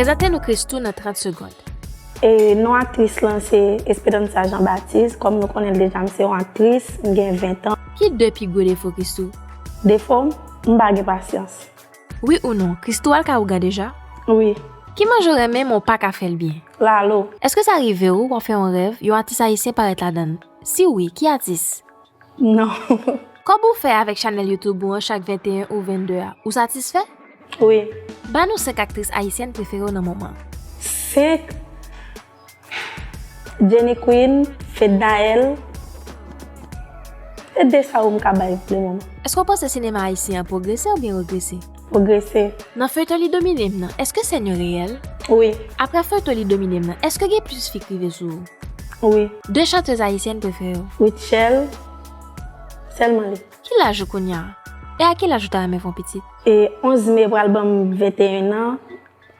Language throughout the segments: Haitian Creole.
Prezante nou Christoo nan 30 segond. Non aktris lan se Esperanza Jean Baptiste. Kòm nou konnen l deja m se yon aktris, m gen 20 tan. Ki 2 pi gwo defo Christoo? Defo m, m pa gen pasyans. Wi ou non, Christoo al ka ougan deja? Wi. Ki manje w renmen men w pa ka fè l byen? Lalo. Èske sa rive w, w ap fè yon rèv, yon atis ayisyen parèt ladan l? Si wi, ki atis? Non. Kòb ou fè avèk chanèl YouTube ou an chak 21 ou 22 a, ou satisfè? Wi. Ba nou 5 aktris ayisyèn prefere w nan moman. 5? Jenny Queen, Fednaelle, se 2 sa yo m ka bay pou le moman. Eske w panse sinema ayisyen an pwogrese oubyen regrese? Pwogrese. Nan feyton li domine m nan eske sèn yo reyèl? Wi. Aprè feyton li domine m nan eske gen plis fi k rive sou ou? Wi. 2 chantez ayisyèn prefere w? Rutshelle, sèlman li. Ki laj ou kounya? E a ki laj ou ta renmen fon pitit? E 11 me pral banm 21 ans.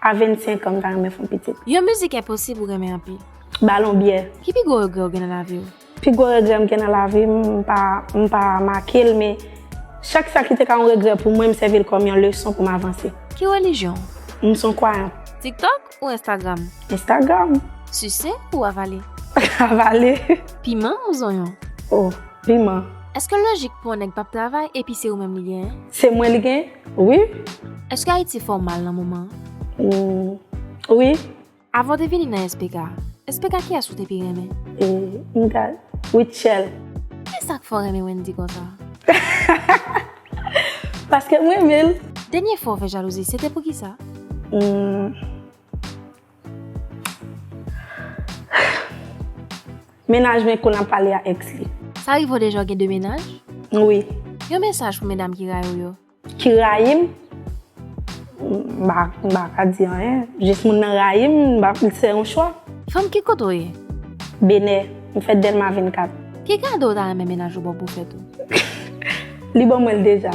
A 25 an m ta renmen fon pitit. Yon mizik enposib ou renmen anpil. Balon byè. Ki pi gwo regrè ou gen nan lavi ou? Pi gwo regrè m gen nan lavi m, m pa make l men chak sa ki te ka yon regrè pou mwen m sèvi l kòm yon leson pou m avanse. Ki relijyon ou? M son kwayan. Tiktok ou Instagram? Instagram. Sise ou avale? Avale. Piman ou zonyon? Oh piman. Eske lojik pou yon nèg pap travay epi se ou menm li genyen? Se mwen li genyen? Wi. Eske Ayiti fè w mal nan moman an? Humm wi. Avan w te vini nan SPK, SPK kiyès ou te pi renmen? Humm m ta Rutshelle. Kisa k fè w renmen Wendy konsa? Hahahaha Paske m renmen l. Dènye fwa w fè jalouzi se te poukisa? Humm. Mennaj mwen konn ap pale a ex li. Sa rive w deja w gen 2 mennaj? Wi. Yon mesaj pou medam ki rayi w yo? Ki rayi m? M pa ka di anyen. Jis moun nan rayi m, m pa fè yon chwa. Fanm ki kote w ye? Benè. M fèt Dèlma 24. Ki kado w ta renmen mennaj ou ba w pou fèt ou? Li ban mwen l deja.